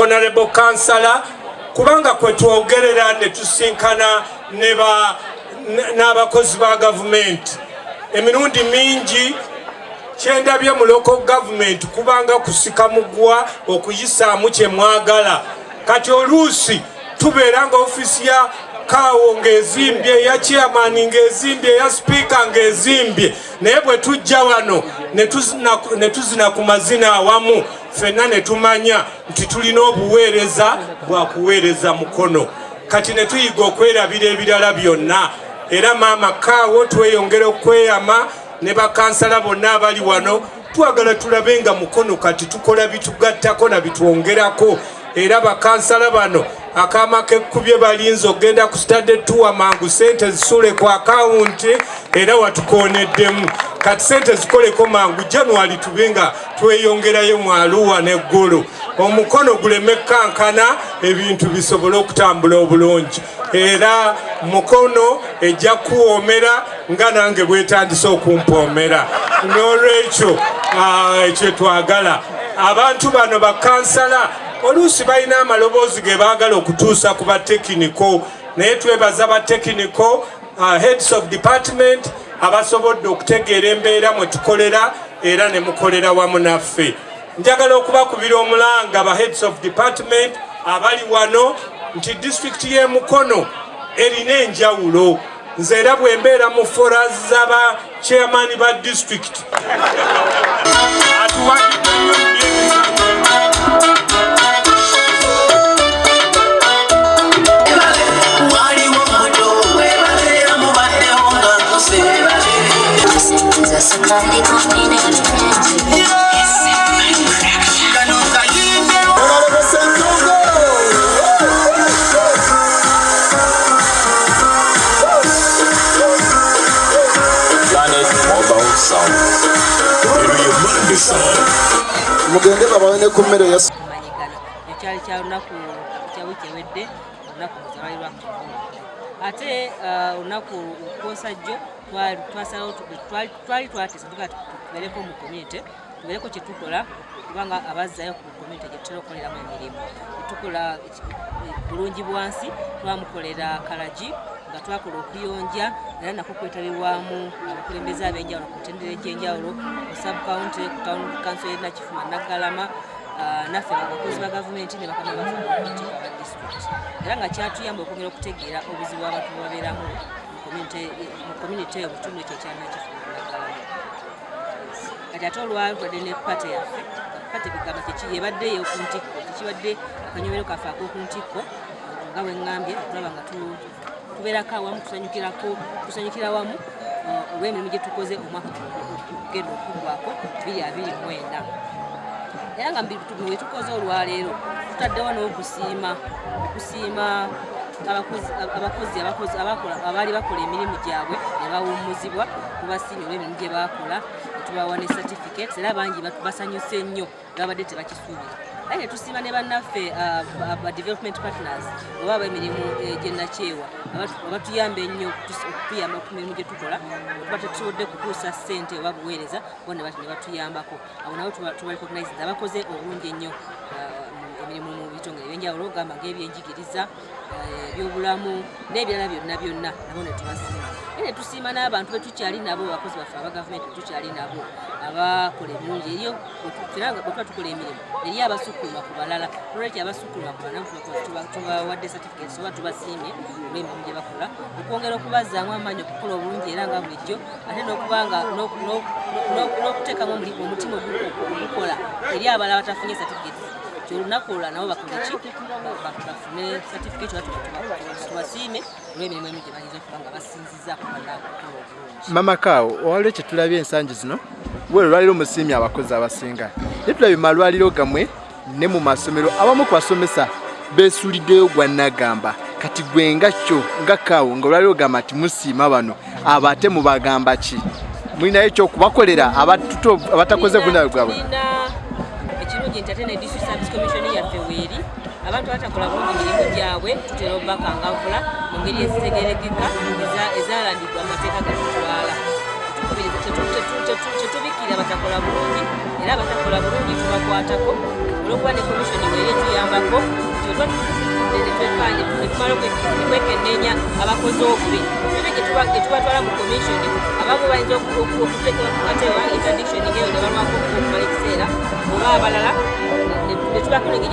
honorable kansala kubanga kwe twogerera ne tusinkana n'abakozi ba gavumenti emirundi mingi kyendabye mu local government kubanga kusika mugwa okuyisaamu kye mwagala kati oluusi tubeera nga ofiisi ya kaawo ng'ezimbye eya chairman ng'ezimbye eya sipiika ng'ezimbye naye bwe tujja wano ne tuzina ku mazina awamu fenna ne tumanya nti tulina obuweereza bwa kuweereza mukono kati ne tuyiga okwerabira ebirala byonna era maama kaawo tweyongera okweyama ne bakansala bonna abali wano Twagala tulabe nga Mukono kati tukola bitugattako na bitwongerako era bakansala bano akaama kekkubye balinze okugenda ku stade tuwa mangu sente zisuule ku akawunti era watukooneddemu kati sente zikoleko mangu january tube nga tweyongerayo mu aluwa n'eggulu omukono guleme kukankana ebintu bisobole okutambula obulungi era mukono ejja kuwoomera nga nange bwetandise okumpoomera n'olwekyo ah, ekyo twagala abantu bano bakansala oluusi balina amaloboozi ge baagala okutuusa ku batekiniko naye twebaza batekiniko ah, heads of department abasobodde okutegeera embeera mwe tukolera era ne mukolera wamu naffe Njagala okubakubira omulanga ba heads of department abali wano nti district ye Mukono erina enjawulo nze era bwembeera mu fora zaba chairman ba district Just a tiny mugende babawe ne ku mmere ya ekyali kya lunaku kya wiiki ewedde olunaku luzabali lwa ate uh, olunaku lwosajjo twasalawo twali twatisa tuvuga tubeereko mu komyunite tubeereko kye tukola kubanga abazzayo ku komyunite gye tutera okukoleramu emirimu tukola bulungi bwansi twamukolera kalagi nga twakola okuyonja era nako kwetabirwamu abakulembeze ab'enjawulo ku mitendera egy'enjawulo ku subcounty ku town council ye nakifuma naggalama ah, naffe abakozi ba gavumenti ne bakama bafuabatika ba disitulikiti era nga kyatuyamba okwongera okutegeera obuzibu abantu bwebabeeramu community eyo butundu ekyo kyanakifunaddala kati ate olwalutadde ne pate yaffe pate kugamba kyeki yebadde eyoku ntikko tekibadde akanyomero kaffe akoku ntikko nga bwengambye okulaba nga tubeerako awamu tusanyukirako tusanyukira wamu uh, olw'emirimu gye tukoze omwaka genda okuggwako biri abiri mwenda era nga wetukoze olwaleero tutaddewo n'okusiima okusiima abakozi abakozi abakozi abakola abaali bakola emirimu gyabwe ne bawummuzibwa kubasiinyi olw'emirimu gye baakola tubawa ne certificate era bangi basanyuse nnyo babadde tebakisuubira aye netusiima ne bannaffe ba development partners oba abemirimu eh, gyenakyewa abatuyamba ennyo okutuyamba ku mirimu gye tukola tuba tetusobodde kutuusa ssente oba buweereza bona batuyambako abo nabo tubarecognise nti abakoze obulungi ennyo uh, emirimu mu bitongole ebyenjawulo ogamba ngaebyenjigiriza uh, ebyobulamu n'ebirala byonna byonna nabo netubasiima naye netusiima n'abantu betukyali nabo abakozi baffe aba gavumenti betukyali nabo abakola ebirungi eriyo bwetuba tukola emirimu eriyo abasukuluma ku balala nolwekyo abasukuluma ku balala tubawadde ensonga tubasiimye olw'emirimu gye bakola okwongera okubazzaamu amaanyi okukola obulungi era nga bulijjo ate n'okuba nga n'okuteekamu omutima ogukola eri abalala batafunye satifiketi kyolunaku olwa nabo bakoleki bafune satifiketi tubasiime olw'emirimu emu gye bayinza okuba nga basinzi mama kawo owaliwo kyetulabye ensangi zino we olwaliro musiimye abakozi abasinga naye tulabye malwaliro gamwe ne mu masomero abamu ku basomesa beesuuliddeyo gwa nagamba kati gwe nga kyo nga kawo nga olwaliro gamba nti musiima bano abo ate mubagamba ki mulinayo ekyokubakolera abatakoze bunawe bwabwe ekirungi nti ate ne district service commission yaffe weeri abantu batakola bulungi mirimu gyabwe tutera obubakangavula mu ngeri ezitegerekeka ezalandidwa amateeka gatutwala tetubikira abatakola bulungi era abatakola bulungi tubakwatako olwokuba ne komishoni weeri etuyambako twekennenya abakozi obubi ebe getubatwala mu komishoni abamu bayinza okuteekebwa ku kateewa interdiction ngeyo ne balwako okumala ekiseera oba abalala netubakolege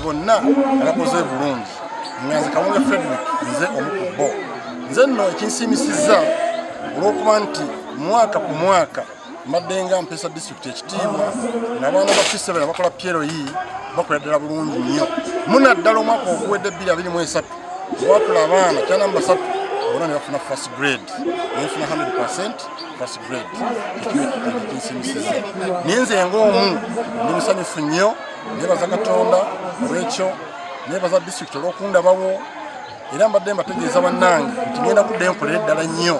bonna abakoze bulungi nga nze kawunga frederick nze omu ku bo nze nno ekinsiimisiza olw'okuba nti mwaka ku mwaka mbadde nga mpeesa disitulikiti ekitiibwa nabaana ba fisebera bakola pyero yi bakola ddala bulungi nnyo munaddala omwaka oguwedde ebbiri abiri mu esatu watula abaana kyanamba satu bona ne bafuna first grade nefuna 100 percent first grade ekinsiimisiza naye nze ngaomu ndi musanyufu nnyo nebaza katonda olwekyo nebaza district olwokundabawo era mbadde mbategeeza bannange nti ngenda kudda enkolere ddala nnyo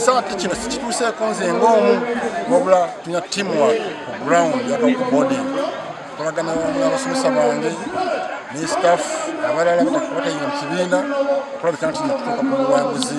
saati kino sikituuseeko nze ngaomu wabula tulina teamwork ku ground yakakubodi kolagana abasomesa bange ne staff abalala batayina mu kibiina okulabika nti netutuuka ku buwanguzi